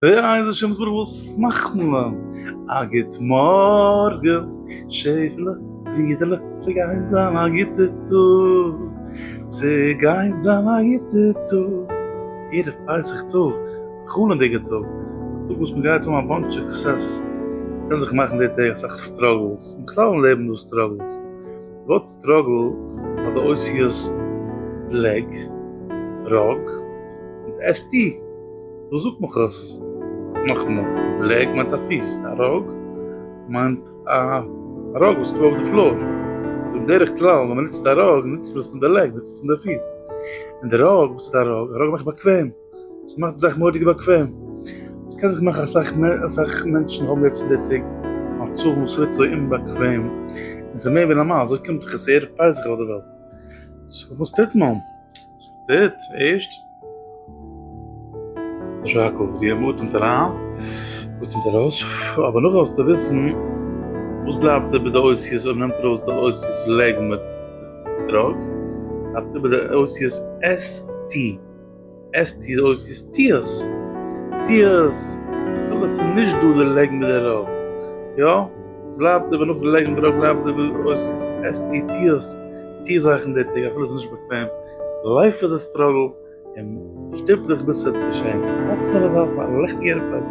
איי זשע מוז ברוך וואס מאכט מען? א גוט מארגען שעפעלע ברידערלע ס'גייט זיין א גוטע טאג ס'גייט זיין א גוטע טאג ערב פסח טאג א חלומ'דיגע טאג א טאג וואס מ'גייט האבן א באנטש סוקסעס ס'קען זיך מאכן די טעג אסאך סטראגעלס בכלל אין לעבן איז דא סטראגעלס ווארט סטראגל פאר די אותיות בלעק ראק מיט ס ט, וואס זאגט מיך עס נאכאמאל? בלעק מיינט א פיס, א ראק מיינט א ראק וואס איז דא אויף די פלאר, און בדרך כלל ווען מען נוצט א ראק נוצט מען עס פון די לעג, נוצט מען עס פון די פיס, און די ראק, וואס איז א ראק? א ראק מאכט באקוועם. עס מאכט די זאך מורא'דיג באקוועם, עס קען זיך מאכן אסאך מער, אסאך מענטשן האבן יעצט אין די טעג מצבים וואס ס'ווערט אזוי אומבאקוועם, און ס'איז מער ווי נארמאל, אזוי קומט זיך עס ערב פסח אויף די וועלט, סאו וואס טוט מען? וואס מען טוט? ערשט, יישר כח פאר דיר, מען אטעמט אריין, מען אטעמט ארויס, אבער נאכדעם זאלסטו וויסן וואס בלייבט איבער די אותיות אויב מען נעמט ארויס די אותיות לג מיט דרג, בלייבט איבער די אותיות ס ט. עס טוט אויס איז טיערס, טיערס, אבער עס איז נישט דא די לעגענדע דערויף, יא? עס בלייבט אבער נאך די לעגענדע דערויף בלייבט די וואס אויס איז עס טוט טיערס, טוה זאכן אין די טעג אפילו עס איז נישט באקוועם, לייף איז א סטראגל און שטופ דיך ביז ס'וועט געשען, אלץ נאר אזא ס'איז א ליכטיגערע פלייס.